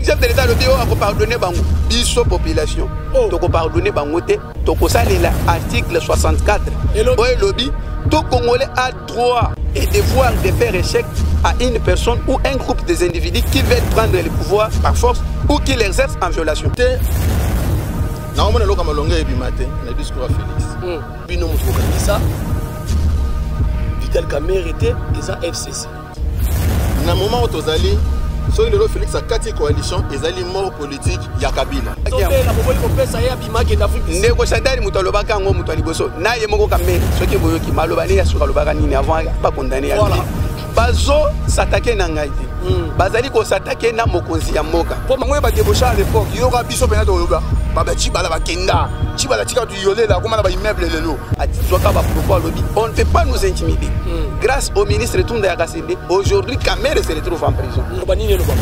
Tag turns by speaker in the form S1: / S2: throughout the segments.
S1: chef de l'état alobi oyo akopardonne bango biso population oh. tokopardonne bango te tokosalela article 64 oyo elobi tout congolais a droit et devoir de faire échec à une personne ou un groupe des individus qui veulent prendre le pouvoir par force ou qui l'exerce en violation
S2: naomona eloko malonga ebima te na discours ya félix hmm. bino moto bokanisa
S3: vital kamere te eza fcc
S2: na moment oyo tozali soki lelo félix akati coalition ezali mort politique ya kabila
S1: ndeko santani moto alobaka yango moto ya liboso na ye moko kamere soki boyoki maloba nde ya suka alobaka nini avant bakondane ya bazo satake na ngai te hmm. bazali kosatake na mokonzi ya mboka po bango ye badebosha à
S4: l'époque yoka biso mpena toloba babacibala bakenda cibala tika yolela akoma na ba immeuble lelo azwaka ba propos alobi
S1: on ne peut pas nous intimider mm. grâce au ministre Tunda ya Kasende aujourd'hui Kamere se retrouve en prison loba nini loba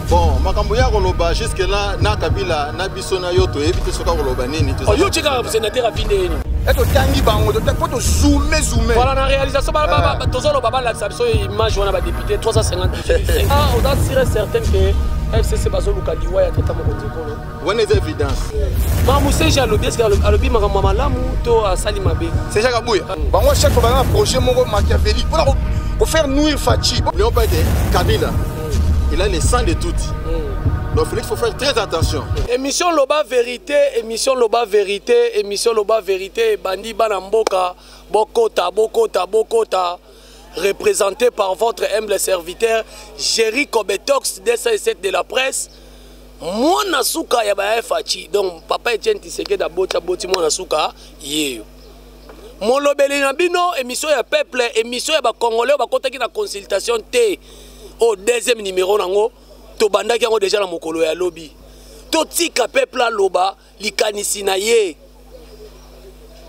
S2: bon makambo ya koloba jusque là na Kabila na biso na yo toyebi te soka koloba nini oh, yo tika sénateur
S3: afinde yeni totangi bango
S4: po tozume zume voilà na réalisation
S3: eh. tozoloba balakisa biso image wana badepute 350 ah, oza sire certaine que fcc bazoluka liwa ya tata mokonzi ekolo wana eza
S2: évidence mamu seje
S3: alobi eske alobi makambo ya malamu to asali mabe seje kabuya mm.
S1: bango chaque fois baza na
S4: projet moko machiavélique mpona kofaire nuire faci n'ayons pas ete
S2: kabila mm. il a le sang de tuti mm. donc félix faut faire très attention émission loba
S3: vérité émission loba vérité émission loba vérité ebandi bana mboka bokota bokota bokota représenté par votre humble serviteur Jerry Kobetox 207 de la presse mwana suka ya ba faci donc papa etienne tisekedi aboti aboti mwana suka yeyo molobeli na bino émission ya peuple émission ya bacongolais bakotaki na consultation te oyo deuxième numéro nango tobandaki yango deja na mokolo ya lobi totika peuple aloba likanisi na ye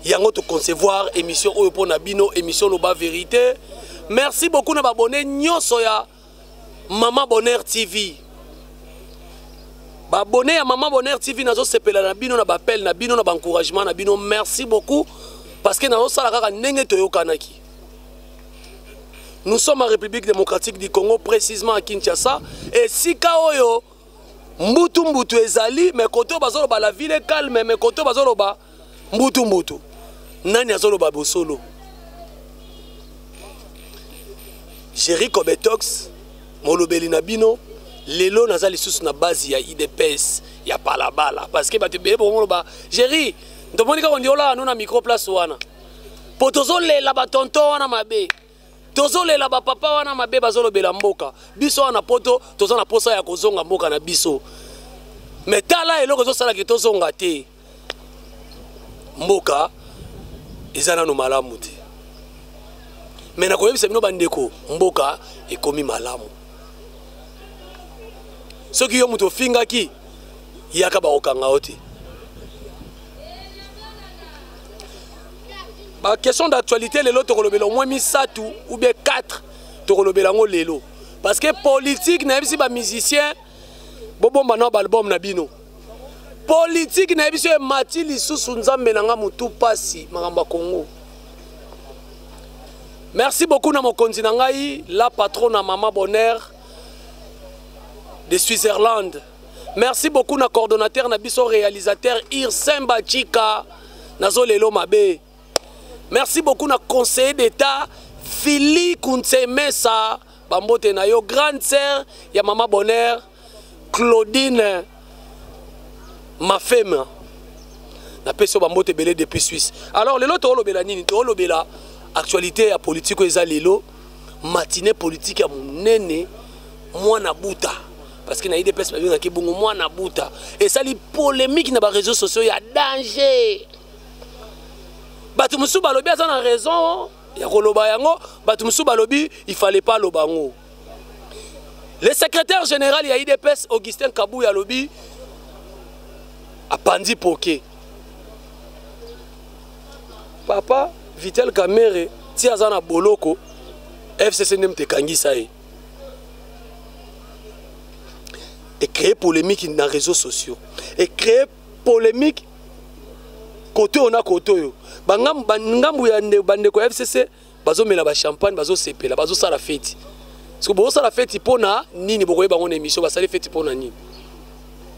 S3: yango toconcevoir émission oyo mpo na bino émission loba vérité merci beaucoup na babone nyonso ya mama bonheur tv babone ya mama bonheur tv nazosepela na bino na bapele na bino na baencouragement na bino merci beaucoup parce que nazosala kaka ndenge toyokanaki nous sommes en république démocratique du congo précisement à kinshasa esika oyo oh mbutu mbutu ezali me kote oyo bazoloba la ville calme me kote oyo bazoloba mbutu mbutu nani azoloba bosolo jerry cobetox molobeli na bino lelo naza lisusu na base ya idps ya balabala parce que bato ebele bokoloba jerry tomoni kaka ondiola ano na micro place wana mpo tozolela batonton wana mabe tozolela bapapa wana mabe bazolobela mboka biso wana poto toza na mposa ya kozonga mboka na biso me tala eloko ezosala ke tozonga te mboka eza nano malamu te me nakoyebisa bino bandeko mboka ekomi malamu soki yo moto ofingaki yaka bakokanga yo te ba question d'actualité lelo tokolobela au moins misato ou bien 4 tokolobela yango lelo parce que politique nayebisi bamusicien bobomba nao baalbum na bino politiki na ye biso emati lisusu nzambe na nga motu mpasi makambo ya kongo merci beaucoup na mokonzi na ngai la patron na mama bonheur de switzerland merci beaucoup na coordonnateur na biso réalisateur irsemba chika nazo lelo mabe merci beaucoup na conseiller d'état fili kunsemesa bambote na yo grande sœur ya mama bonheur claudine mafema napesi yo bambote ebele depuis suisse alors lelo toolobela nini toolobela actualité ya politike oyo eza lelo matine politike ya monene mwana buta parce que na idps babengaki bongo mwana buta esali polémique na bareseau sociaux ya danger bato mosusu balobi aza na raison ya koloba yango bato mosusu balobi il fallait pas aloba yango le secrétaire général ya idps augustin kabuya alobi apanzi poke papa vitel kamere ti aza na boloko fcc nde moto ekangisa ye ecree polémique na réseaux sociaux ecree polémique kote oyo na kote oyo bangambu ya bandeko ya fcc bazomela bachampagne bazosepela bazosala feti soki bozosala feti mpo na nini bokoyeba yango na émission basali feti mpo na nini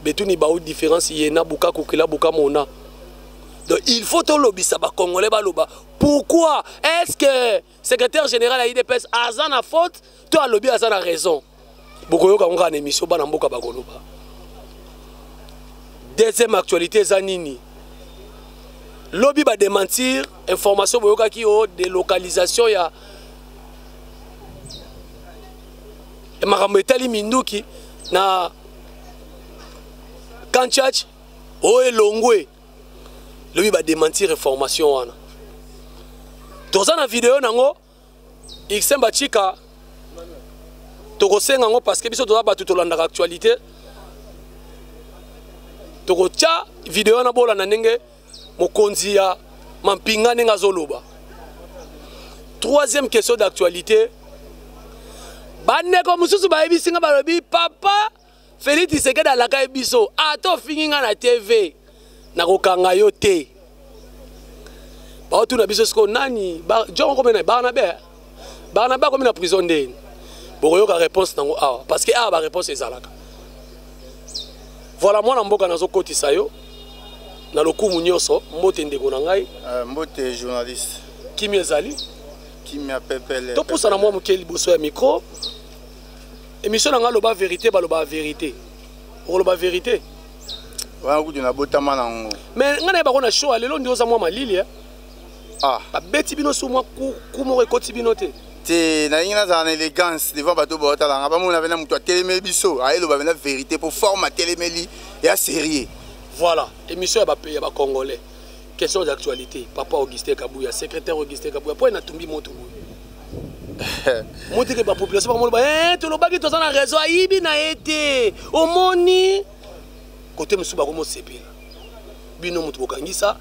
S3: betuni bao différence ye na buka kokela buka mona donc il faut tolobisa bacongolais baloba pourquoi est ce que secrétaire général ya idps aza na faute to alobi aza na raison bokoyoka ngo kaka na émission bana mboka bakoloba deuxième actualité eza nini lobi badementir information boyokaki o delocalisation ya makambo etali minduki na kanchach oyo elongwe lobi ba démentir reformation wana toza na video nango Iksemba Chika tokosenga yango parce que biso toza bato tolandaka actualité tokotya video wana bolanda ndenge mokonzi ya mampinga ndenge azoloba troisième question d'actualité bandeko mosusu bayebisi nga balobi papa Felix Tshisekedi alakaki biso ata ah, ofingi nga na TV nakokanga yo te baotuna biso sikoyo nani jon okomi na barnabe eh? barnabe akomi na prison nde bokoyoka réponse nango awa parce que awa baréponse ezalaka voilà mwana mboka nazokotisa yo na lokumu nyonso mbote ndeko na ngai euh, mbote
S4: journaliste kimi ezali
S3: kimia
S4: pepele topusana mwa moke
S3: liboso ya mikro emission na ngai aloba verité balobaka verité okoloba verité wana
S4: kutu nabotama nango me ngai naye bako na
S3: show ya lelo ndi oza mwa malili eh? ah.
S4: babeti bino su mwa
S3: ku moko ekoti bino te te nalingi nazala
S4: na élégance devant bato baotalanga bamona pena moto atelemeli biso ayeloba pena vérité mpo forme atelemeli ya sérieux voilà émission ya
S3: bacongolais Question d'actualité, Papa Augustin Kabuya, secrétaire Augustin Kabuya, pourquoi n'a tombé moto Moto que la population va dire, eh, tu l'as pas dit, tu as un réseau, il n'a été, au moni, côté monsieur Bagomo Sepé, bino moto bokangi ça,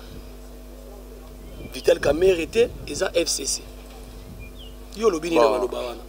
S3: Vital Kamerhe était, et ça FCC. Yo lobini na maloba wana.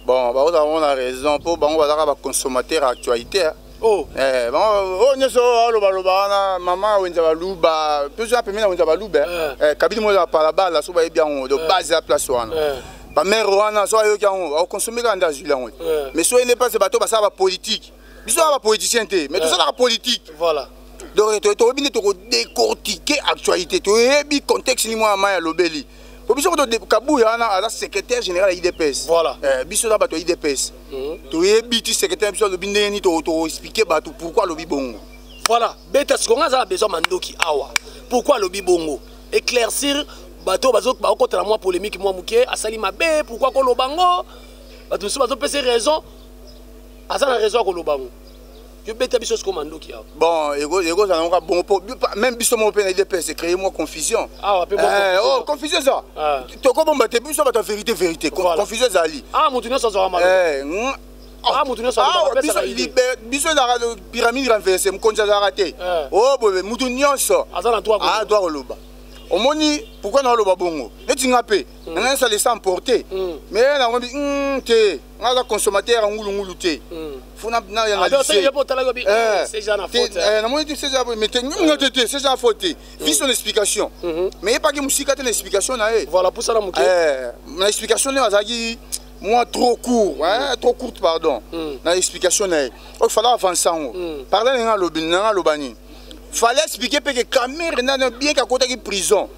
S4: bon bakozala bango na raison mpo bango bazalaka baconsommateur actualité oh. eh,
S3: bango oyo oh,
S4: nyonso oyo alobaloba wana mama wenza baluba mpezo ya pembe na wenza baluba eh. eh, kabidi moyo ya palabala so bayebi yango do base ya place wana bamere wana so ayoki yango akonsome kaka nde azwili yango mais so ene place bato basala bapolitike biso aa bapoliticien te mais tosalaka politike voilà
S3: donc toyebi
S4: nde tokodecortike actualité toyebi contexte ni mwana mai alobeli po biso ko kabuya wana aza secrétaire général ya idps voilà. eh, biso na
S3: bato ya idps
S4: mm -hmm. toyebi ti secrétaire biso alobi ndenge nini toexplike bato pourquoi alobi bongo voilà beta
S3: sikoyo ngai aza na besoin mandoki awa pourquoi alobi bongo éclaircir bato bakokotana mwa polémique mwa moke asali mabe pourquoi koloba ngo bato mosusu bazopesa raison aza na raison ya koloba ngo yo beta biso siko mandoki awa bon ekozala
S4: moka bongo po même biso moko mpe na idps ecreye mwa confusion awa mpe eh,
S3: oh, confusion eza
S4: ah. tokobomba te biso bato ya vérité vérité confusion ezali ah moto nyonso
S3: azwaka malo eh, ah, ah, biso
S4: ezalaka pyramide renverse mokonzi azalaka te eh. o oh, boye moto nyonso adwa
S3: koloba
S4: omoni pourkui naoloba bongo neti nga mpe hmm. nanga esala esa emporte mais hmm. nakomi hmm, te nga aza consommateur ya ngulungulu te funa na ya
S3: namoni te seja mais
S4: te nyongo te te seja fo te vi son explication mais epaki mosika te na explication na ye voilà pour ça na moke
S3: na explication
S4: naye azalaki moi trop court hein, trop courte pardon na explication na ye oyo fala avance yango pardon nanga alobi nanga aloba nini fallait expliquer mpe que Kamerhe nana bien kakotaki prison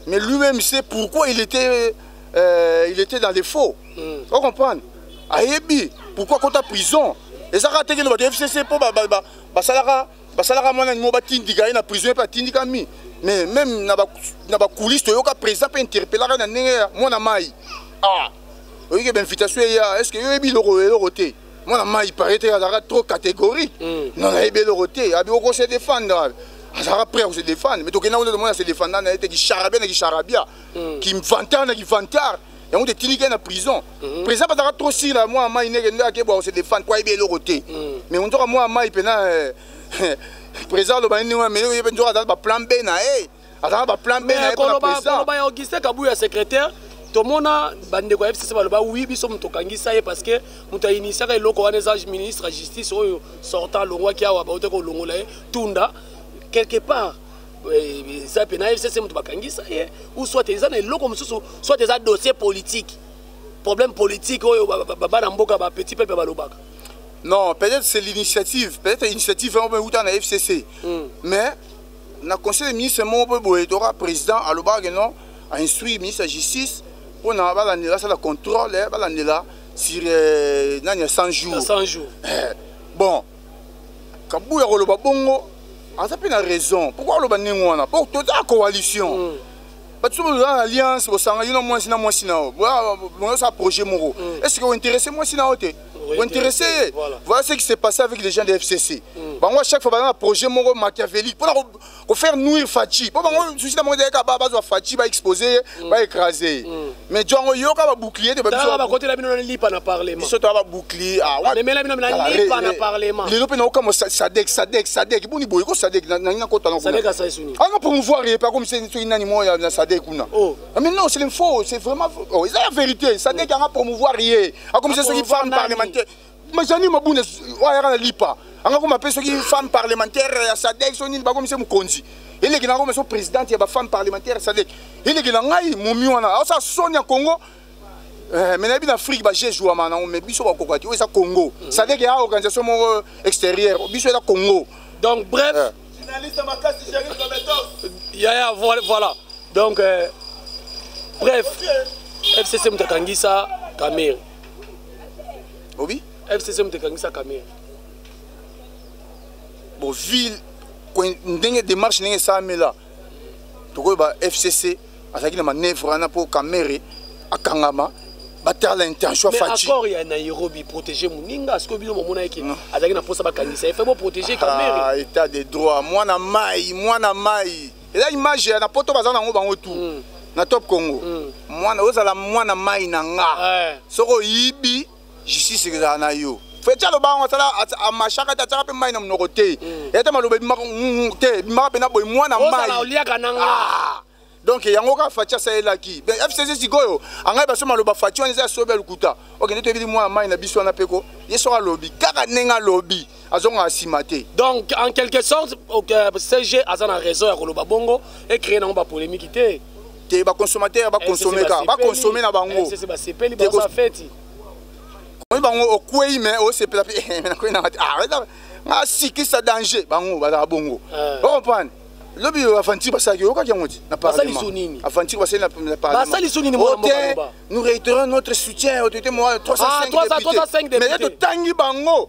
S4: mais lui-même sait pourquoi il était, euh, il était dans les faux mm. o comprendre ayebi pourquoi kota prison eza kaka teke lobaka fcc mpo basalaka basalaka mwana nimo batindika ye na prison mpe atindikami mais même na bacoulise toyoka président mpe interpellaka na ndenge ya mwana mai ah oyoki bainvitation eya est ce que yo oyebi eloko eloko te mwana mai paye te azalaka trop catégorique mm. non nayebi eloko te abi okose défendre azalaka prêt akose défendre mais tokenda kuna tomona se défendana ye te kisharabia na kisharabia kimvantard mm. na kivantard yango te tindiki na prison mhm. président bazalaka trop sur na mwa mai ndeke nde akebwa kose defendre po ayebi eloko te mhm. mais onzoka mwa mai mpena eh, président aloba nini wana mais ye mpe nzoka azalaki baplan b na ye azalaka baplan b na ye koloba ya augustin
S3: kabuya secrétaire tomona bandeko ya fcc baloba wi biso moto okangisa ye parce que moto ainitiaka eloko wana eza ministre ya justice oyo sortant alongwaki awa bautaki kolongola ye tunda quelque part eh, eza mpe na fcc moto bakangisa ye ou soit eza na eloko mosusu soit eza dossier politique problème politique oyo bana mboka bapetit peuple balobaka non peut-être
S4: c'est l'initiative peut-être initiative yango mpe euta na fcc hmm. mais na conseil de ministre moko mpe boye toka président alobaka ke non ainstruire ministre ya justice mpo na balandela asala contrôle eh, balandela sur euh, nani ya 100 jours
S3: bon
S4: kabuya koloba bongo aza mpe na raison pourkoi aloba ndenge wana mpo toza na coalition mm. bato so boza na alliance bosanga yo na mwasi na mwasi na yo bozosala projet moko mm. est ce que ointeresse mwasi na yo te ointeresse ye voilà ce qui s'est passé avec les gens de fcc mm. bango à chaque fois baza na projet moko machiavélique mpona ko faire nuire Fatshi po bango souci na bango ezali kaka bazwa Fatshi ba exposer ye mm. ba écraser ye mm. mais jo yango yoka ba bouclier te ba biso ba kotela bino na lipa
S3: na parlement biso to ba bouclier
S4: ah wa memela bino na lipa
S3: na parlement lelo pe na oka mo
S4: sadek sadek sadek boni boye ko sadek na nina ko tana ko sadek asa
S3: isuni anga ah, promouvoir ye pa
S4: comme c'est soki nani mo ya na sadek kuna oh ah, mais non c'est l'info c'est vraiment oh eza la vérité sadek anga promouvoir ye a comme c'est soki femme parlementaire majani mabunda oyo ayaka na lipa anga koma mpe soki femme parlementaire ya sadek so nini bakomi se mokonzi eleki na koma so présidente ya bafemme parlementaire ya sadek eleki na ngai momi wana aosa soni ya congo eh, me nayebi na afrique baje jouama nango me biso bakoka te oyo eza congo mm. sadek ya organisation moko extérieure biso eza congo donc bref
S3: eh. yaya voilà donc euh, bref fcc moto akangisa kamere
S4: obi fcc moto
S3: ekangisa kamere
S4: bon ville ndenge démarche ndenge esalamela tokoyeba fcc azalaki na manœuvre wana mpo kamere akangama batala intention faci accord ya
S3: nairobi protéger moninga sikoyo bino momona yeke azalaki na mposa bakangisa ye fe boprotéger kamere ah, état de droit
S4: mwana mai mwana mai eza image ya na poto baza nango bango tu mm. na top congo mm. mwana ozala mwana mai na nga eh. soki oyibi justice ekozala na yo feti aloba yango asala amashaka te atyaka mpe mai na monoko te mm. ete maloba ebimaka mm, te ebimaka mpe na boye mwana maioliaka na nga
S3: ah. donc yango
S4: kaka fati asalelaki fcc sikoyo angai baso maloba fati wana eza ya sobe ya lokuta okende toyebi mwana mai na biso wana mpe ko ye soko alobi kaka ndenge alobi azongaka nsima te
S3: donc en quelque sorte euh, cg aza na raison ya koloba bongo ecree nango bapolémiki te te
S4: baconsommateur baconsome kaka baconsome na bango basepeli baza
S3: feti
S4: oyi bango okwei me osepela mpe eh, nakwei nanga te ah, ngasikisa danger bango bazala bongo eh. ocomprendre lobi aventure basalaki oyokaki yango ti na parlementaventire basali na parlementote
S3: nous réitérons
S4: notre soutien autorité moral 305 député mais ye totangi bango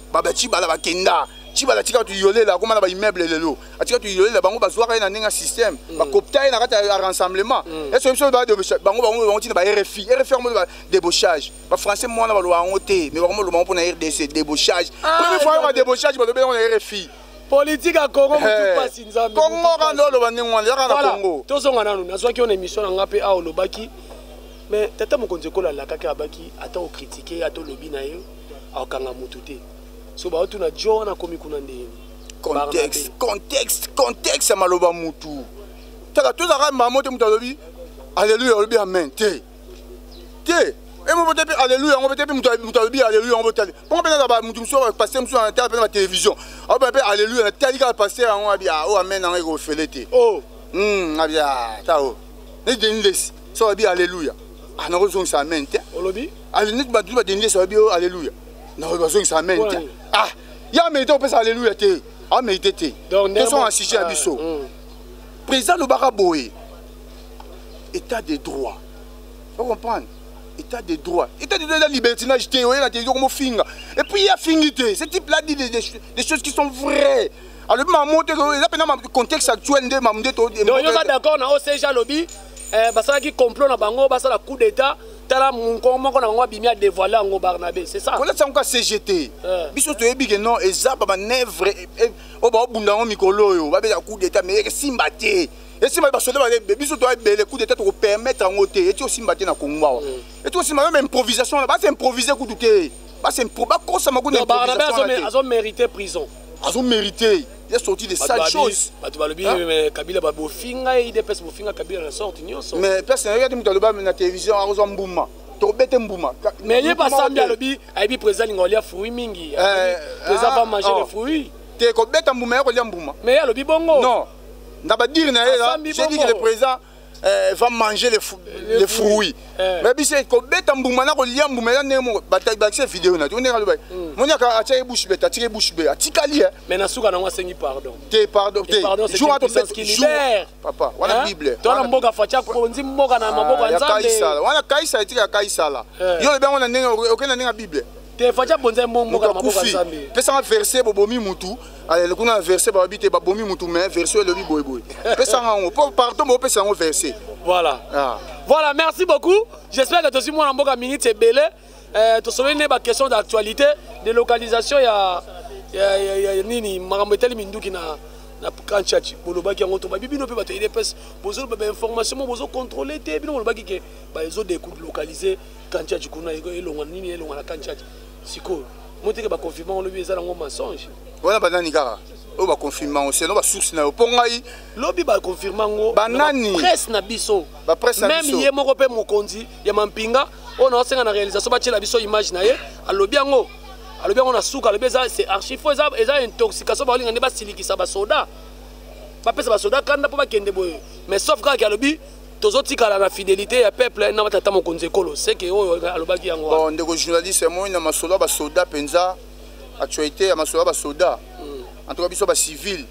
S4: baba chibala bakenda chibala atika tu yolela akoma na ba immeuble lelo atika tu yolela bango bazwaka ye na ndenge ya système mm. bakopta ye na kati ya rassemblement mm. ese biso bango bango bango ntina ba rfi rfi yango ba débauchage ba français mwana baloba yango te mais bakoma loba yango mpo na rdc débauchage ah, premier fois yango ba débauchage balobi yango na rfi politike ya congo
S3: eh, motu mpasi nzambe congo kanda oloba ndenge
S4: wana yaka na congo tozonga nanu
S3: nazwaki yo na émission na ngai mpe awa olobaki mais tata mokonzi ekola alakaki abaki ata okritike ata olobi na ye akokanga motu te so baotuna jo wana akomi kuna ndenge contexte contexte
S4: contexte ya maloba mutu taka tozalaka mamo te moto alobi aleluya olobi amen te te emo bote mpe aleluya yango bote mpe moto alobi aleluya yango botali bongo mpenza ba moto mosusu oyo paster mosusu na tala mpenza batelevizio aoba mpe aleluya natali kaka paster yango abia o oh, amen yango ekofele te o oh. hmm,
S3: abia
S4: ta o oh. neti denis lesi so babi alleluia ah, nakozongisa amen te olobi
S3: neti bato badendi
S4: yesu babi oh, alleluia bazongisa amen te ah ya merite kopesa alleluia te amerite te tosonga sujet ya biso mm. président alobaka boye état de droit o comprendre état de droit état de droit eza libertinage te oyela te yoko mofinga et puis ye afingi te ce type là dit des, des, des choses qui sont vraies alobi mamu te eza mpena contexte actuel nde mamu nde toyoka d'accord
S3: na ocg alobi eh, basalaki complot na bango basala coup d'état tala monkoko moko na bango abimi adévoile yango barnabe c'est ça kolati yango ka cgt eh.
S4: biso toyebi ke non eza bamanevre eh, eh, oyo baobunda yango mikolo oyo babeta coup d'état mais esimba te esimba basoda baebe biso toya ebele coup d'état tokopermettre yango te eti osimba te na kongo awa mm. eti osimba yo ma improvisation wana basi improvise kutu te basi bakosama kuna improvisation wana te
S3: azomérite prison azomérite
S4: il a sorti des sales choses bato balobi hein? mais kabila
S3: babofinga ye idps bofinga kabila na sorte nyonso mais place nayoki ate moto aloba
S4: na télévision akozwa mbuma tobete mbuma mais ye basambi
S3: alobi ayebi président linga olia fruit mingi eh, président va ah, manger le oh. fruit te kobeta mbuma
S4: ya kolia mbuma mais ye alobi bongo non
S3: na
S4: badire na ye là, j'ai dit que le président eh, va manger les, fou, les fruits eh. mais biso kobeta mbuma na kolia mbuma eza ndenge moko bakisa video na ndenge aloba hmm. moni aka atiaki bouche bete atikaki bouche bete atikali eh. mais na suka nango asengi
S3: pardon te pardon te
S4: jour ato
S3: libère papa wana bible
S4: tona mboka facha
S3: konzi mboka na ah, maboko ya nzambe wana kaisala wana kaisala etika
S4: ya kaisala eh. yo lobi yango na ndenge okenda ndenge ya bible te fati abonzai
S3: mbo mboka na maboko ya nzambe pesanga verse bobomi
S4: mutu alele kuna na verse balobi te babomi mutu mais verse elobi boyeboye pesanga yango po pardon bopesa yango verse voilà ah.
S3: voilà merci beaucoup j'espère que tozwi mwana mboka minute ebele eh, tosololi nde baquestion d'actualité de localisation ya, ya, ya, ya, ya nini makambo etali minduki na na kanchachi bolobaki yango tobabi bino mpe bato ya idps bozoloba bainformation mo bozocontrole te bino bolobaki ke baezo delocaliser kanchachi kuna elonga nini elonga na kanchachi sikoyo moteke baconfirma olobi eza nango mensonge wana banani kaka
S4: oyo baconfirma yango seno basource na yo mpo ngai lobi baconfirma
S3: yango banani presse na
S4: biso
S3: meme ye
S4: moko mpe mokonzi
S3: ya mampinga oyo naosenga na réalisation batyela biso image na ye alobi yango alobi yango na suka alobi eza c'est archive fo eza, eza intoxication baolinga nde basilikisa basoda bapesa basoda kanda mpo bakende boye mais sauf kaka alobi tozotikala na fidelité ya peuple na batata mokonzi ekolo seke oyo alobaki yango bon ndeko journaliste
S4: moi na masolo ya basoda mpenza actualité ya masolo ya basoda hmm. en tout cas biso bacivile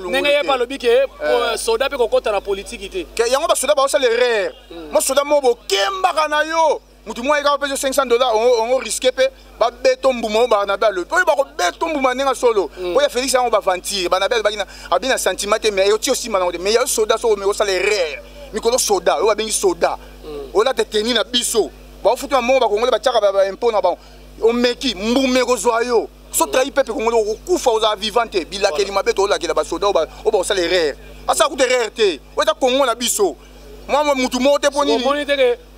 S4: ndenge
S3: ye balobi ke eh. euh, soda mpe kokɔta na politiki te yango basoda baosala
S4: erreur hmm. mosoda moko bokembaka na yo mutu moko ayekaka mpe 500 dollars ongo riske mpe babeto mbuma oyo barnabe alobi oyo bakobeto mbuma ndenge ya solo mm. oyo ya félix yango bavantire barnabe alobaki abi na sentiment te mais eyoti osimba nango te mais yayo soda soko omeki osala erreur mikolo soda oyo babengi soda mm. olata teni na biso baofutu na mongo bakongole batiaka baimpo na bango omeki mbuma ekozwa yo so trahi pepe kongole okokufa ozala vivant te bilakeli mabe toolakela basoda oyo bakosala erreur asala kuta erreur te oyo eza kongo na biso mwa motu moko te mpo nini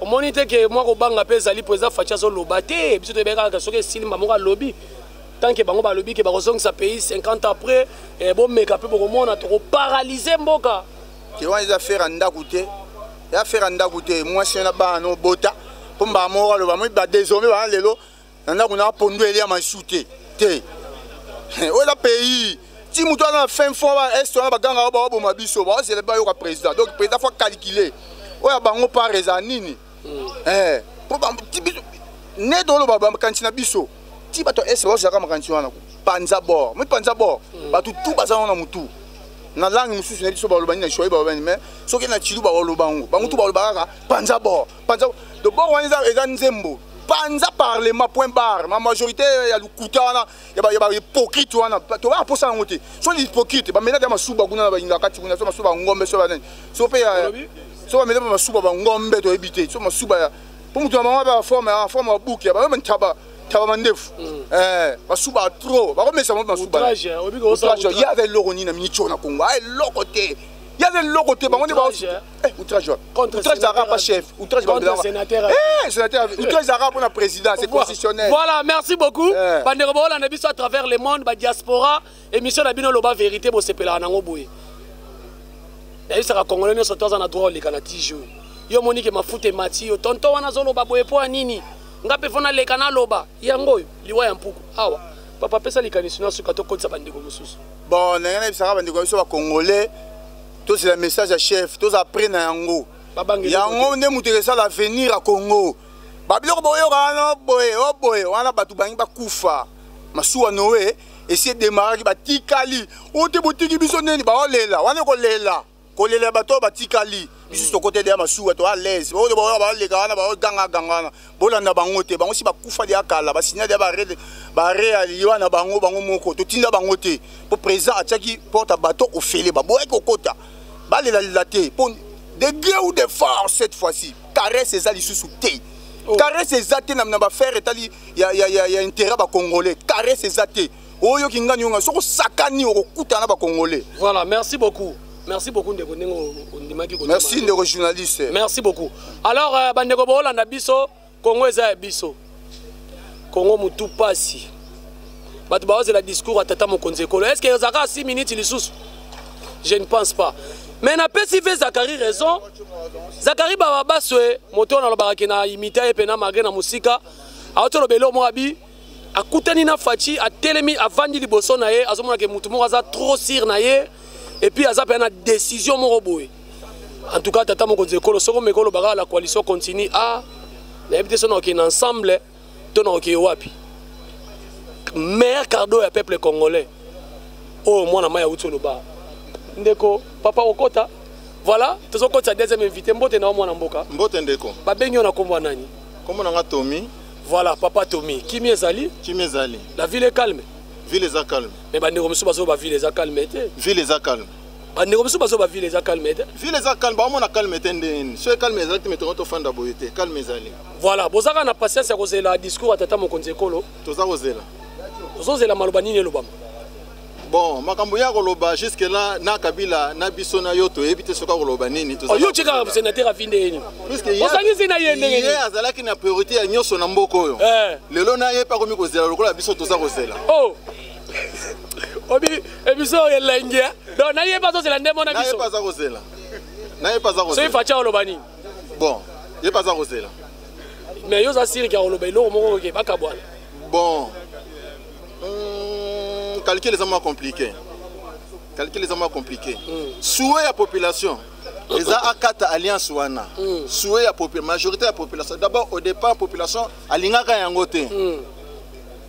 S4: omoni te
S3: ke mwa kobanga mpe ezali mpo eza faci azoloba te biso toyebaki kaka soki esili mba moko alobi tant ke bango balobi ke bakozongisa pays 50 après eh, bomeka mpe bokomona tokoparalyse mboka te wana eza
S4: fere ya ndako te ya fere ya ndako te mwasi na bana obota mpo mbala moko aloba moi badesome bana lelo na ndako na pondu elia maisu te te oyo eza pays ti moto wana na fin fo ba est wana baganga baboma biso baozela bayoka président donc président fo calcule oyo ya bango par eza nini mm. eh, po nde toloba makanisi na biso ti bato ya est baozalaka makanisi wana panza bor mi panza bor mm. bato tu baza wana motu na langue mosusu na biso balobani na shoi balobani mais soki na chilu baoloba yango bango tu balobaka kaka panza bor panza dobor wana eza eza nzembo panza parlement point barre ma majorité ya lokuta wana ya bahypocrite wana tobaa mposa yango te so ni hypocrite bamenate ya masuba kuna na bayinga kati kuna so masuba ngombe so banani so mpe so bamenate mpe masuba bangombe toyebi te so masuba mpo moto na bango mpe baforme forme ya buki ya bango ntaba taba mandefu mm. eh, basuba trop bakomesa bango masuba ye aza eloko nini na minico na congo a ah, eloko te ye aza eloko te bango nde Eh, outrage wapi outrage ezalaka mpa chef outrage
S3: sénateur outrage
S4: ezalaka mpo na président c'est constitutionnel voilà merci beaucoup
S3: eh. bandeko baolanda biso à travers le monde badiaspora émission na bino loba vérité bosepelaka nango boye nayebisaka congolais nyonso to aza na droit oleka na tijour yo omoni ke mafuta emati yo tonto wana azoloba boye mpo ya nini nga mpe fo naleka naloba yango oyo liwa ya mpuku awa papa apesa likanisi na suka tokotisa bandeko mosusu bon ndenge nayebisaka
S4: bandeko ya biso bacongolais tozela message ya chef tozala pre na yango yango nde moto ekesala avenir ya congo babiloko boyoka wana oboye oboye wana bato bangi bakufa masuwa noe esi edemaraki batikali oyo te botiki biso nini baolela wana ekolela kolela ya bato oyo batikali biso tokotedela masuwa to alaise baoyo baoyo baleka wana baogangaganga wana bolanda bango te bango si bakufa deya kala basinya deya barealiwa na bango bango moko totinda bango te mpo président atiaki porte ya bato ofele baboyaki kokota balelalela te mpo de gré ou de force cette fois-ci caresse eza lisusu te oh. caresse eza te na bafere etali ya, ya, ya, ya intérêt ya bacongolais caresse eza te oyo kingani onga soko sakani okokutana ba congolais voilà merci beaucoup
S3: merci beaucoup ndeko ndenge ondimaki ko merci ndeko journaliste merci beaucoup alors euh, ba ndeko bolanda
S4: biso
S3: Congo eza ya biso Congo mutu pasi bato baozela discours ya tata mokonzi ekolo est ce que ezalaka 6 minutes lisusu je ne pense pas mais napesi ve zakari raison zakari bababaswe moto oyo nalobaka ke na imita ye mpena malgré na mosika aotoloba eloo moko abi akutani na faci atelemi avandi liboso na ye azomona ke motu moko aza trop sire na ye epuis aza mpenza na décision moko boye en tout cas tata mokonzi ekolo soki omeki oloba kaka la coalition continue a ah, nayebi te so nakokei na ensemble to nakokei wapi meilleur cardo ya peuple congolais oyo oh, mwana mai auti oloba ndeko papa okota voilà tozokotisa deuxième invité mbote na yo mwana mboka mbote ndeko babengi
S2: yo na nkombo ya
S3: nani nkombo na nga tomi
S2: Voilà, papa
S3: Tommy. Kimi ezali? Kimi ezali. La
S2: ville est calme.
S3: Ville est calme.
S2: Mais bande comme ça, bazo ba
S3: ville est calme. Ville est calme.
S2: Bande comme ça, bazo
S3: ba ville est calme. Ville est calme. Bah, on a
S2: calme. Tendez. Soyez calme. Ezali, mais tu vas fanda boyete. Calme ezali. Voilà. Bozaka na
S3: patience ya kozela discours à tata mokonzi ekolo. Toza kozela.
S2: Toza kozela
S3: maloba nini elobama. bon
S2: makambo ya koloba jusque là na kabila na biso na yo toyebi te soki akoloba nini oh, yo tikaka sénateur afi
S3: nde yeni osangisi
S2: na ye ndenge ye azalaki na priorité ya nyonso na mboka oyo eh. lelo na ye mpe akomi kozela lokola biso toza kozela oh.
S3: obi ebiso oyo elengi eh? donc na ye mpe azozela nde mona biso aza kozela
S2: na ye mpe aza kozela soki facha oloba nini
S3: bon
S2: ye mpe aza kozela mais yo
S3: oza siriki akoloba eloko moko oke bakabwana bon
S2: hmm, calcul eza mwa compliqué calcul eza mwa compliqué hmm. souhait ya population eza akata alliance wana hmm. souhait ya majorité ya population d'abord au départ population alingaka yango te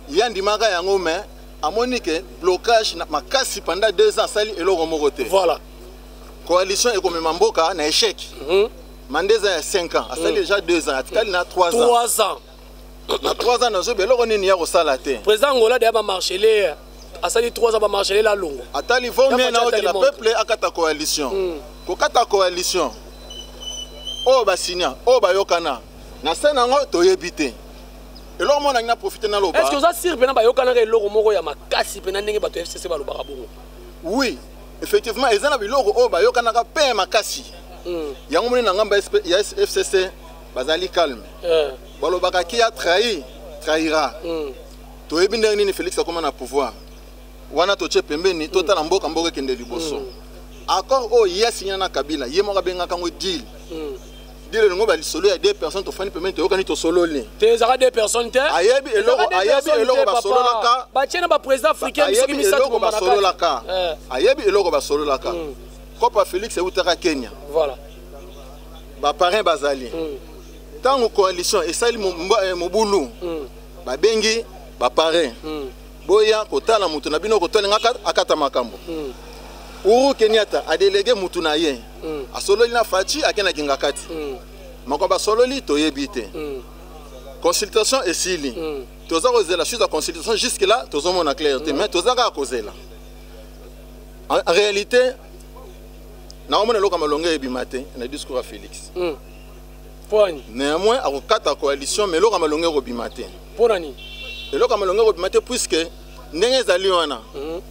S2: ye andimaka yango mais amoni ke blocage na makasi pendant deux ans asali eloko moko te voilà
S3: coalition
S2: ekomema mboka na échec mm -hmm. manda eza ya 5 ans asali mm. déjà 2 ans atikali na 3 ans
S3: na 3 ans
S2: nazoyeba eloko nini ya kosala te président ngola deya bamarchele
S3: asali 3 ans bamarchele lalongo atali vomie na
S2: oke na peuple akata coalition hmm. kokata coalition oyo basinya oyo bayokana na se nango toyebi te eloko moko nangi na profite naloba est ce que oza sire mpena bayokanaka
S3: eloko moko ya makasi mpena ndenge bato ya fcc balobaka bongo oui
S2: effectivement eza na biloko oyo bayokanaka mpe ya makasi hmm. yango moni na ngambo ya fcc bazali calme eh. balobaka ki a trahi trahira mm. toyebi ndenge nini félix akoma na pouvoir wana totie pembeni totala mm. mboka mboka ekende liboso mm. accord oyo ye asinya na kabila ye moko abengaka yango deal mm. deal elingo balisolo ya deux personnes tofandi pembeni toyokani tosololi te ezaka deux personnes
S3: te ayebi eloko ayebi
S2: eloko basololaka batie na baprésident
S3: africain soki misato basololaka
S2: eh. ayebi eloko basololaka mm. kopa félix eutaka kenya voilà ba parrain bazali mm. ntango mm. coalition esali eh, mobulu mm. babengi ba parrain mm. boya kotala moto na bino kotolinga akata makambo mm. uru kenyata adelege motu na ye mm. asololi na faci akendaki ngakati mm. moko basololi toyebi te mm. consultation esili mm. toza kozela suite ya consultation jusque là tozomona claire te mm. mais toza kaka kozela en réalité naomona eloko ya malonga ebima te na discours ya félix mm. poni néanmoins akokata coalition mais eloko ya malonga ekobima te mpo na nini
S3: eloko ya malonga
S2: ekobima te puiske ndenge ezali wana mm.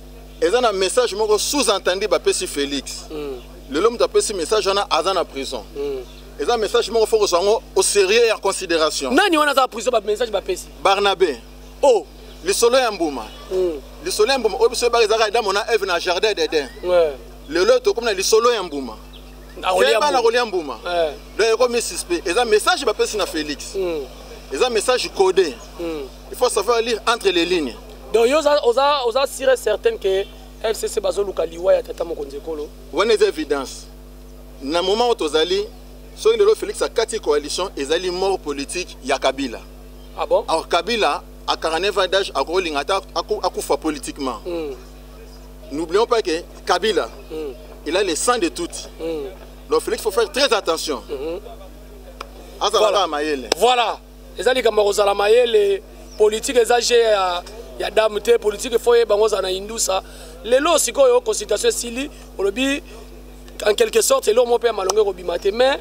S2: eza na message moko sous entendu bapesi félix mm. lelo moto apesi message wana aza na prison mm. eza message moko fo kozwa yango au sérieux ya considération nani wana aza prison
S3: bamessage bapesi barnabe
S2: o oh. lisolo ya mbuma mm. lisolo ya mbuma oyo biso oyebaka ezalaka edamo na eve na jardin d'eden ouais. lelo oyo tokomi na lisolo ya mbuma keba na kolia mbuma eh. donc ekomi suspect eza message bapesi na félix hmm. eza message codé hmm. il faut savoir lire entre les lignes donc yo oza,
S3: oza sire certaine que fcc bazoluka liwa ya tata mokonzi ekolo wana eza évidence
S2: na moment oyo tozali soki lelo félix akati coalition ezali mort politique ya kabila ah bon? alors
S3: kabila à
S2: 49 ans d'âge akolinga ata akufa politiquement mm. n'oublions pas que Kabila, mm. il a le sang de Tutsi. Mm. Donc Félix, il faut faire très attention. Mm -hmm.
S3: Voilà. voilà. ezali likambo ya kozala mayele politike eza je ya, ya dame te politike fo yeba yango ozala na indusa lelo sikoyo consultation esili olobi en quelque sorte eloko moko mpe ya malongo ekobima te mais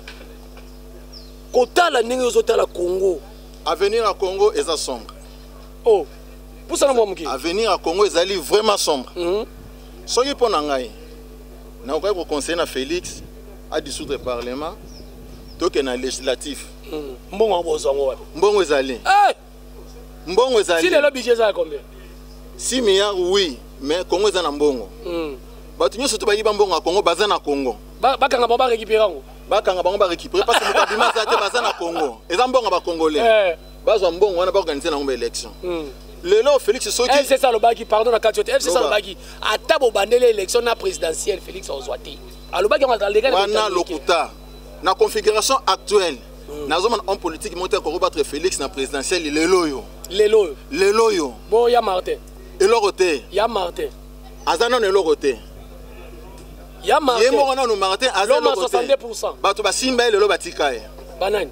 S3: kotala ndenge ozotala congo avenir ya congo
S2: eza sombre oh.
S3: pusana mwa moke avenir ya congo
S2: ezali vraiment sombre mm -hmm. soki mpo na ngai nakokaki koconseille na félix adissoudre parlement tokende na législatif mm. mbongo yango bozwa
S3: yango wapi mbongo ezali eh!
S2: mbongo ezali si lelo budget eza ya
S3: combien 6 milliard
S2: oui mais congo eza na mbongo mm. bato nyonso to bayiba mbongo ya congo baza na congo bakanga bango barécupere
S3: yango bakanga bango barécupere
S2: parce que moto abima aza te baza na congo eza mbongo ya bacongolais eh. bazwa mbongo wana baorganize nango ba élection hmm. lelo félix sokielcs alobaki pardon na
S3: kati yo te elcs alobaki ata bobandeli élection na présidentielle félix ozwa te alobaki yango wana lokuta
S2: na configuration actuelle hmm. nazomona homme politique moko te akoki battre félix na présidentielle lelo oyo lelo oyo lelo oyo bo ya martin
S3: eloko te ya
S2: martin
S3: aza nano eloko
S2: te
S3: ya martin ye moko nano martin
S2: aza eloko te bato
S3: basimba ye lelo
S2: batika ye banani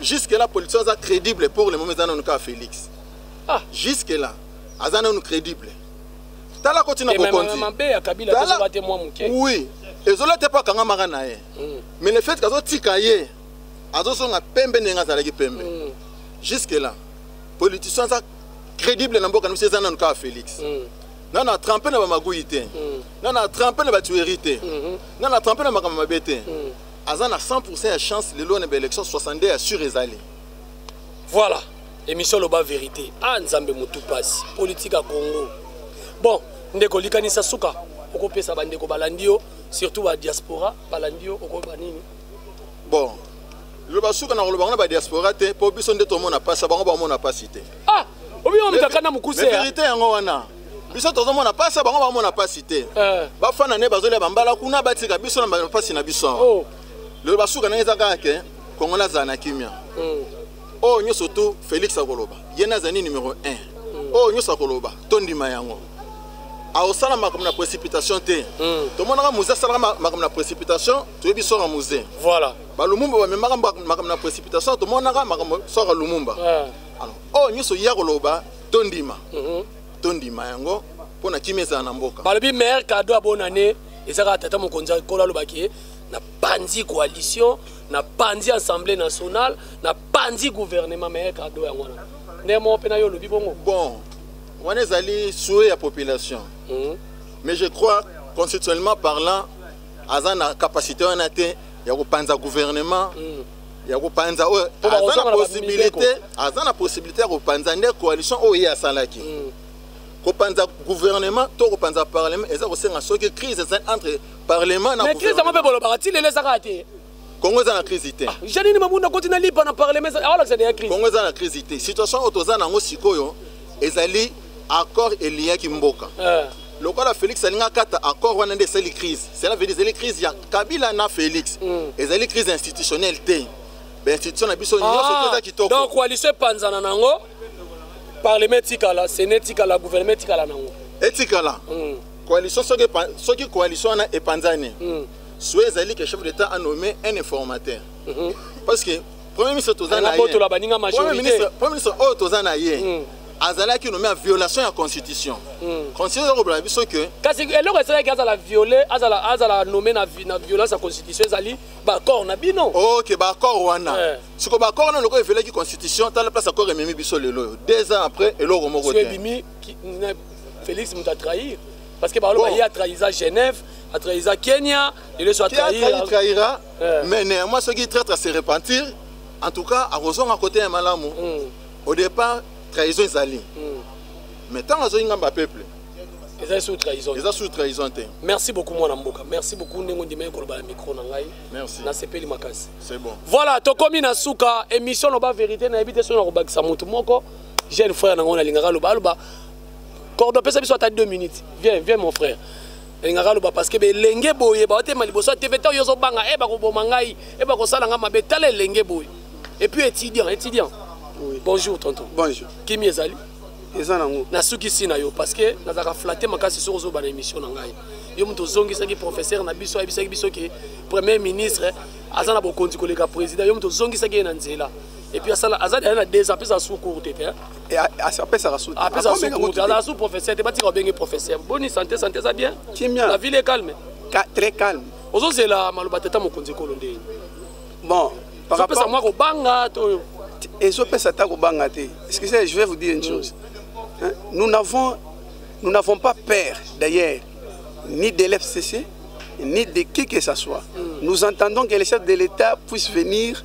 S2: Jusque là politicien aza crédible pour le moment eza nanu kaka Felix. Ah, jusque
S3: là
S2: aza nanu crédible. Tala kotina bokonzi. Mabe ya Kabila tozo bate mwa muke. Oui. Ezola te pa kanga maka na ye. Mm. Mais le fait kazo tika ye azo songa pembe ndenge azalaki pembe. Mm. Jusque là politicien aza crédible na mboka na biso eza nanu kaka Felix. Mm. nana atrampe na bamaguyi te mm. nana atrampe na batueri te mm-hmm. nana atrampe na makambo mabe te mm. aza na 100% ya chance lelo na ba élection 62 ya sur ezali voilà
S3: émission loba vérité ah nzambe motu pasi politique ya congo bon ndeko likanisa suka okopesa bandeko balandi yo surtout ba diaspora balandi yo okoyeba nini
S2: bon loba suka na koloba ngo na ba diaspora te mpo biso nde tomona mpasi bango bamona mpasi te ah obi
S3: omekaka na mokuse verité yango wana
S2: biso tozomona mpasi bango bamona mpasi te eh. bafanda nde bazolia bambala kuna batika biso na mpasi na biso awa oh. lelo
S3: basuka ndenge
S2: eza kaka ke kongo nazala na kimia hmm. oyo oh, nyonso tu félix akoloba ye nde azali numero 1 oyo hmm. oh, nyonso akoloba tondima yango akosala makambo na précipitation te hmm. tomonaka muze asalaka makambo na précipitation toyebi sora muze voilà balumumba
S3: bamemaka
S2: makambo na précipitation tomonaka makambo sora lumumba eh. alors oyo nyonso ye akoloba tondima mhm. tondima yango mpo na kimia ezala na mboka balobi meilleur cadeau ya
S3: bonne année eza kaka tata mokonzi akolo alobaki ye napanzi coalition napanzi assemblée nationale napanzi gouvernement meilleur cadeau yango wana nde moko mpe na yo olobi bongo bon
S2: wana ezali souhait ya population mhm. mais je crois constitutionnellement parlant aza na capacité wana te ya kopanza gouvernement mm. ya kopanza oyo aza na possibilité aza na possibilité ya kopanza nde coalition oyo ye asalaki mm. kopanza gouvernement to kopanza parlement eza kosenga soki crise eza entre parlement na crise yango mpe bolobaka ti lelo
S3: eza kaka te kongo eza na
S2: crise te ah, janini mabunda koti na
S3: lipa na parlement aolakisa deya crise kongo eza na crise te
S2: situation oyo toza na yango sikoyo ezali accord eliaki mboka eh. lokola félix alingi akata accord wana nde esali crise cela veut dire ezali crise ya kabila na félix hmm. ezali crise institutionnelle te bainstitution na biso nyonso ah, eza kitoko donc coalition epanzana
S3: nango parlement etikala sene etikala gouvernement etikala nango etikala hmm.
S2: coalition soki coalition wana epanzani hmm. soki ezali ke chef d'état anomme un informateur mhm. parce que Premier ministre toza na ye. Botola baninga majorité. Premier ministre, Premier ministre oyo toza na ye. Mm. azalaki nomi ya violation ya constitution mm. constitution eza kobela biso ke kasi eloko esalaki
S3: azala viole azala, azala nommé na, na violence ya constitution ezali baaccord na bino ok baaccord wana
S2: eh. siko baaccord wana lokola eviolaki constitution tala place accord ememi biso lelo oyo deux ans après eloko moko te ebimi
S3: félix moto atrahir parce que baloba bon. ye atrahisa genève atrahisa kenya lelo so atrahira
S2: eh. mais néanmoins soki traître se repentir en tout cas akozonga kote ya malamu hmm. au départ trahison ezali hmm. mais ntango azongi ngambo ya peuple eza sous
S3: trahison eza sous trahison te
S2: merci beaucoup mwana
S3: mboka merci beaucoup ndenge ondimaki koloba na micro na ngai merci nasepeli
S2: makasi
S3: c'est bon voilà
S2: tokomi na
S3: suka émission loba vérité nayebi te soki nakobakisa motu moko jeune frère nango nalingaka aloba aloba cordo pesa biso ata 2 minutes viens viens mon frère elingaka aloba parceke belenge boye baotema liboso ya tv ntango yo ozobanga e eh, bakoboma ngai e eh, bakosala ngai mabe tala elenge boye epuis étudiant étudiant oui. bonjour tonton bonjour kimi ezali eza nango
S5: nasukisi na yo
S3: parceke nazalaka flatte makasi soki ozoba na émission na ngai yo moto ozongisaki professeur na biso ayebisaki biso ke premier ministre aza na bokonzi koleka président yo moto ozongisaki ye na nzela epuis asala aza daya na deux ans mpe eza sous courte te Eh, ah, ah,
S1: apesaka suazala
S3: su professeur te batika obenge professeur boni santé santé eza bien kimia la ville est calme Ka, très calme
S1: ozozela maloba
S3: tata mokonzi ekolo nde bon
S1: ezopesa mwa kobanga to
S3: ezopesa
S1: ata kobanga te excusez je vais vous dire une chose hein? nous n'avons nous n'avons pas peur d'ailleurs ni de l'FCC ni de qui que ce soit mm. nous entendons que les chefs de l'État puissent venir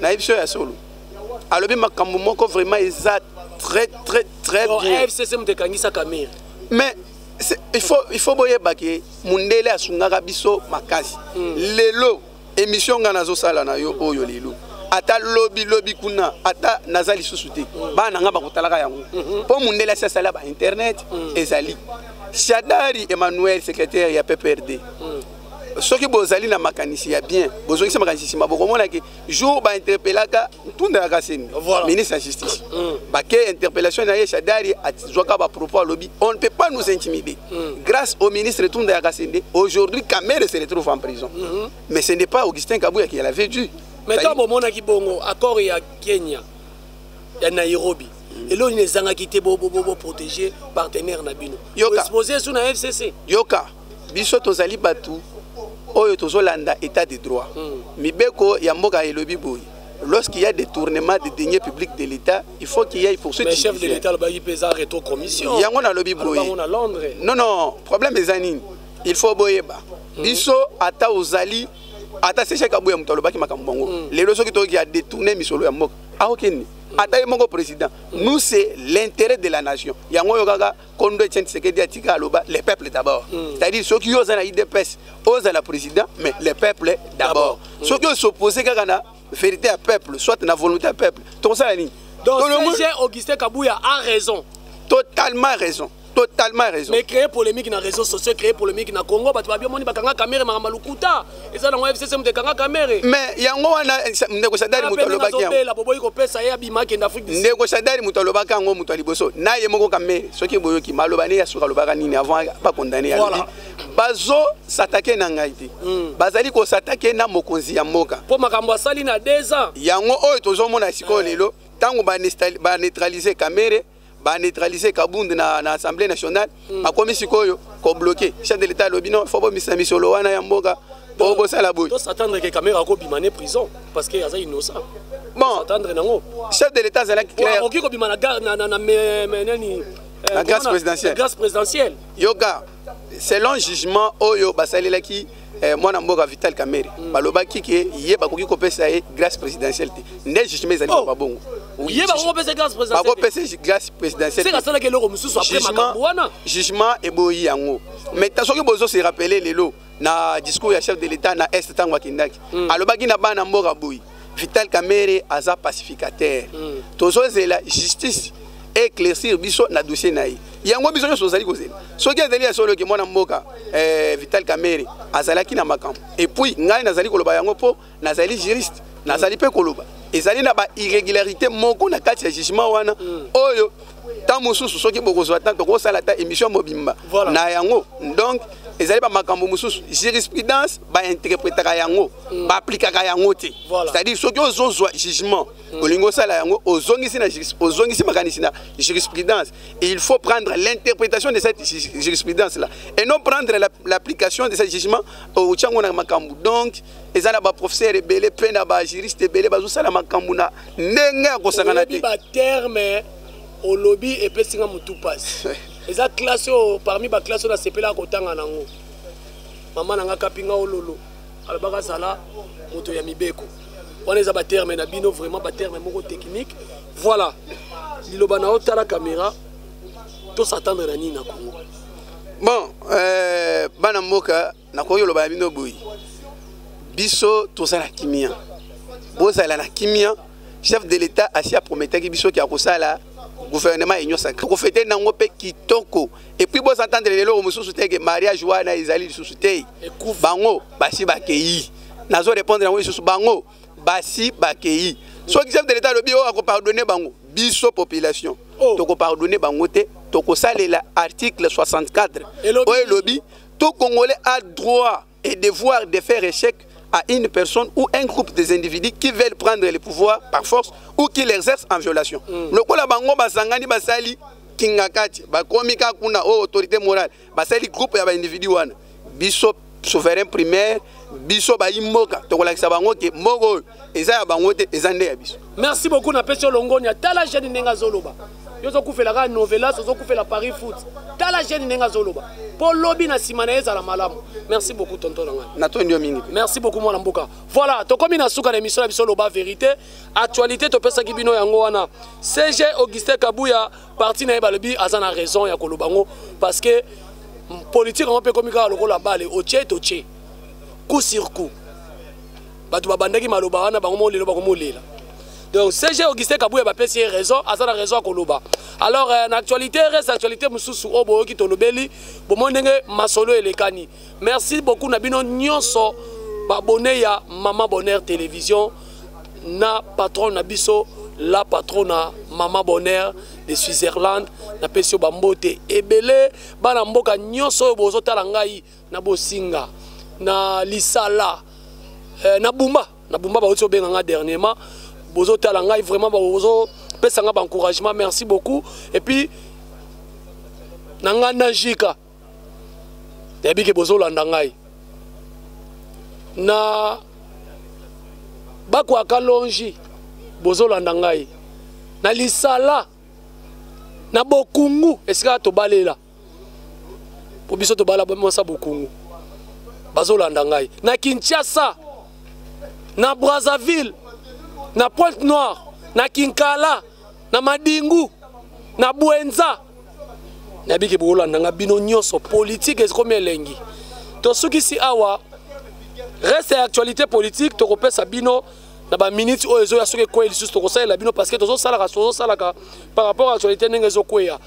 S1: na biso ya solo alobi makambo moko vraiment eza très très très bien fcc moto ekangisa
S3: kamere mais
S1: il faut, il faut boyeba ke mundele asungaka biso makasi mm. lelo émission nga nazosala na yo oyo lelo ata lobi lobi kuna ata naza lisusu te mm. bana na nga bakotalaka yango mpo mm -hmm. mundele asi asala ba internet mm. ezali shadari emmanuel secrétaire ya pprd mm. soki bozali na makanisi ya bien bozongisa makanisi nsima bokomona ke jour bainterpelaka ntunda ya kaseni ministre ya justice mm. bake interpellation na ye shadari azwaka bapropos alobi on ne peut pas nous intimider mm. grâce au ministre tunda ya kasende aujourd'hui kamere se retrouve en prison mm-hmm. mais ce n'est pas augustin kabuya qui l'avait dû mais ntango bomonaki
S3: bongo accord ya kenya ya nairobi eloko nini ezangaki te boprotege partenaire na bino yoka expose esu na fcc yoka
S1: biso tozali bato oyo tozolanda état de droit hmm. mibeko ya mboka elobi boye lorsqu'il y a détournement des deniers publics de l'État, il faut qu'il y ait poursuite. Mais chef de l'État, il peut
S3: faire rétro-commission. Il y a un lobby boye.
S1: Non, non, problème des années. Il faut boyeba. Hmm. Biso, ata ozali, ata seche kabuya moto alobaki makambo bango. Hmm. Lelo soki toki a détourné misolo ya mboka. Aokeni. Ata ye moko président. Nous c'est l'intérêt de la nation. Yango yo kaka kondo etienne tshisekedi atika aloba le peuple d'abord mm. c'est-à-dire soki yo oza na idps ozala président mais le peuple d'abord mm. soki osopose kaka na vérité ya peuple soit na volonté ya peuple tokosala nini donc serge
S3: augustin kabuya a raison totalement
S1: raison totalement raison mais créer polémique na réseau
S3: sociaux créer polémique na congo bato babi omoni bakanga kamere makambo lokuta eza nango fcc moto ekanga kamere mais yango wana
S1: ndeko sadari moto alobaki yango boboyi kopesa ye
S3: abima akende afrique ndeko sadari moto alobaki
S1: yango moto ya liboso na ye moko kamere soki boyoki maloba ne ya suka alobaka nini avant bakondane ya lobi bazosatake na ngai te hmm. bazali kosatake na mokonzi ya mboka mpo makambo asali na
S3: 2 ans yango oyo tozomona
S1: sikoyo eh. lelo ntango baneutralize kamere ba neutraliser Kabund na, na Assemblée nationale mm. bakomi sikoyo ko bloquer chef de l'État lobi non faut bomisa misolo wana ya mboka po bosala boye to s'attendre que Kamera ko
S3: bima ne prison parce que aza innocent bon s'attendre
S1: nango
S3: chef de l'État azalaki
S1: clair okoki ko bima na na na
S3: na nani euh,
S1: la grâce présidentielle la grâce présidentielle
S3: yoga
S1: selon jugement oyo basalelaki eh, mwana mboka vital kamere mm. balobaki ke ye bakoki kopesa ye grâce présidentielle te nde jugement ezali oh. babongo
S3: bakopesa grâce présidentiellegement eboyi
S1: yango mais ta soki bozo se rappele lelo na discours ya chef de l'état na est ntango akendaki mm. alobaki na bana mboka boyi vital kamere aza pacificateur mm. tozozela justice éclaircir biso na dossier na ye yango biso nyonso tozali kozela soki ezali ya solo ke mwana mboka eh, vital kamere azalaki na makambo epuis ngai nazali koloba yango mpo nazali juriste nazali mpe koloba ezali na ba irrégularité moko na kati ya jugement wana mm. oyo ntango mosusu soki bokozwa ntango tokosala ata émission mobimba voilà. na yango donc ezali bamakambo mosusu jurisprudence bainterpretaka yango mm. baaplikaka yango te voilà. c'est-à-dire soki ozozwa jugement mm. olingi osala yango ozongisi na ozongisi makanisi na jurisprudence et il faut prendre l'interprétation de cette jurisprudence là et non prendre l'application de ce jugement otyango na makambo donc eza na baprofesseur ebele mpe na bajuriste ebele bazosala makambo na ndenge ya kosangana te baterme
S3: olobi epesi nga motu mpasi eza classe oyo parmi baclasse oyo nasepelaka kotanga nango mama na nga kapi nga ololo alobaka azala moto ya mibeko wana eza baterme na bino vraiment baterme moko technique voilà liloba na yo tala caméra tosatandre na nini na congo bon euh,
S1: bana mboka nakoki koloba na bino boye biso toza na kimia bozala na kimia chef de l'état asi aprometaki biso ke akosala gouvernement union sacré kofete nango mpe kitoko epuis bozantendre leloko mosusu te ke mariage wana ezali lisusu te bango basi bakei nazo répondre yango lisusu bango basi bakei soki chef de l'état alobi oyo oh, akopardonne bango biso population oh. tokopardonne bango te tokosalela article 64 oyo elobi Tout Congolais a droit et devoir de faire échec à une personne ou un groupe des individus qui veulent prendre le pouvoir par force ou qui l'exercent en violation. Mm. Lokola bango basangani basali kingakati bakomi ka kuna o oh, autorité morale basali groupe ya ba individu wana biso souverain primaire biso bayimboka tokolakisa bango ke moko eza ya bango te eza nde ya biso merci beaucoup na pesi
S3: olongonia tala jeune ndenge azoloba yo ozokufela kaka novelas ozokufela paris foot tala jeune ndenge azoloba mpo lobi na nsima na ye ezala malamu merci beaucoup tonton na ngai natondi yo mingi merci
S1: beaucoup mwana mboka
S3: voilà tokomi na suka na émission na biso loba vérité actualité topesaki bino yango wana cg augustin kabuya parti na ye balobi aza na raison ya koloba yango parce que politique yango mpe ekomi kaka lokola bale otie totie coup sur coup bato babandaki maloba wana bango moko lelo bakomolela donc cg augustin kabuya bapesi ye raison aza na raison ya koloba alors euh, na actualité reste actualité mosusu oyo boyoki tolobeli bomoni ndenge masolo elekani merci beaucoup na bino nyonso babone ya mama bonheur télévision na patron na biso la patrona mama bonheur de switzerland napesi yo bambote ebele bana mboka nyonso oyo bozotala ngai na bosinga na lisala eh, na bumba na bumba bauti obenga nga dernièrement bozotala ngai vraiment bozopesa nga baencouragement merci beaucoup et puis na ngai na jika nayebi ke bozolanda ngai na bakwaka longi bozolanda ngai na lisala na bokungu esika tobalela mpo biso tobala mwasi ya bokongo bazolanda ngai na kinshasa na brazzaville na pointe noire na kinkala na madingu na bwenza nabiki bokolanda ngai bino nyonso politike ekomi elengi tosukisi awa reste ya actualité politique tokopesa bino na ba minutes oyo ezoya soki ekweyi lisusu tokosalela bino parce que tozosalaka tozosalaka par rapport à actualité ndenge ezokweya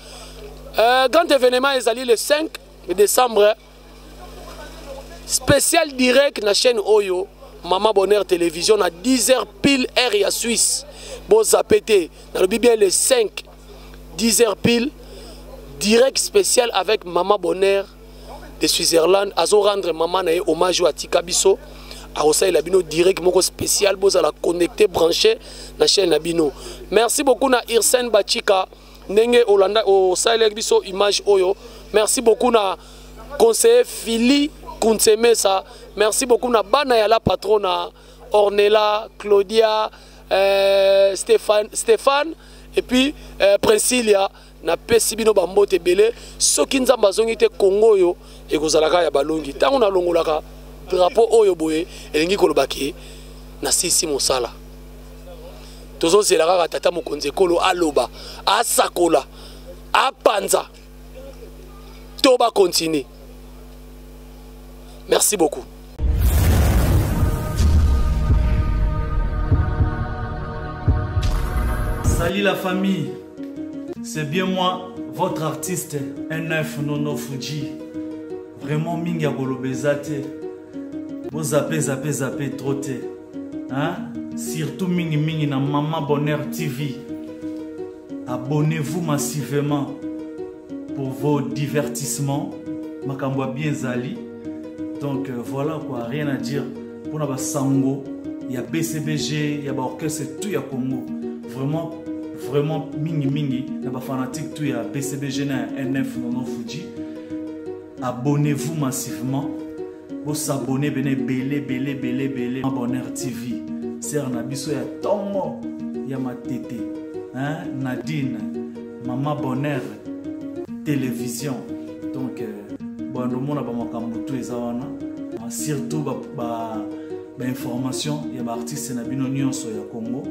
S3: euh, grand événement ezali le 5 décembre spécial direct na chaîne oyo mama bonheur télévision na 10 heures pile heure ya suisse bozape te nalobi bien le 5 10 heures pile direct spécial avec mama bonheur de switzerland azo rendre mama na ye hommage oyo atika biso akosalela bino direct moko spécial bozala connecté branché na chaîne na bino merci beaucoup na irsen bachika ndenge olanda osalelaki biso image oyo merci beaucoup na conseiller fili kunsemesa merci beaucoup na bana ya la patrona ornela claudia euh, Stéphane, Stéphane et puis euh, Princilia napesi bino bambote ebele soki nzambe azongi te kongo oyo ekozalaka ya balongi ntango nalongolaka drapo oyo boye elingi koloba ke nasisi mosala tozozela kaka tata mokonzi ekolo aloba asakola apanza to ba continuer merci beaucoup
S5: Salut la famille, c'est bien moi, votre artiste NF Nono Fuji. Vraiment mingi ya kolobeza te. Bo zape zape zape trop te. Hein? Surtout mingi mingi na Maman Bonheur TV. abonnez-vous massivement pour vos divertissements makambo ya bien ezali donc euh, voilà quoi rien à dire mpona basango ya bcbg ya baorchestre tout ya congo vraiment vraiment mingimingi na bafanatique tout ya bcbg na ya nf nono fuji abonnez-vous massivement Bo s'abonner bene belé belé belé belé. Bonheur TV. Sœur na biso ya tongo ya matete. Hein? Nadine, maman Bonheur, télévision. Donc euh, bon le monde a ba makambo tout eza wana. Ah, surtout ba, ba bainformation ya baartiste na bino nyonso ya congo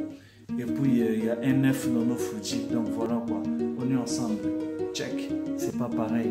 S5: et puis euh, ya nf nono fuji donc voilà quoi on est ensemble check c'est pas pareil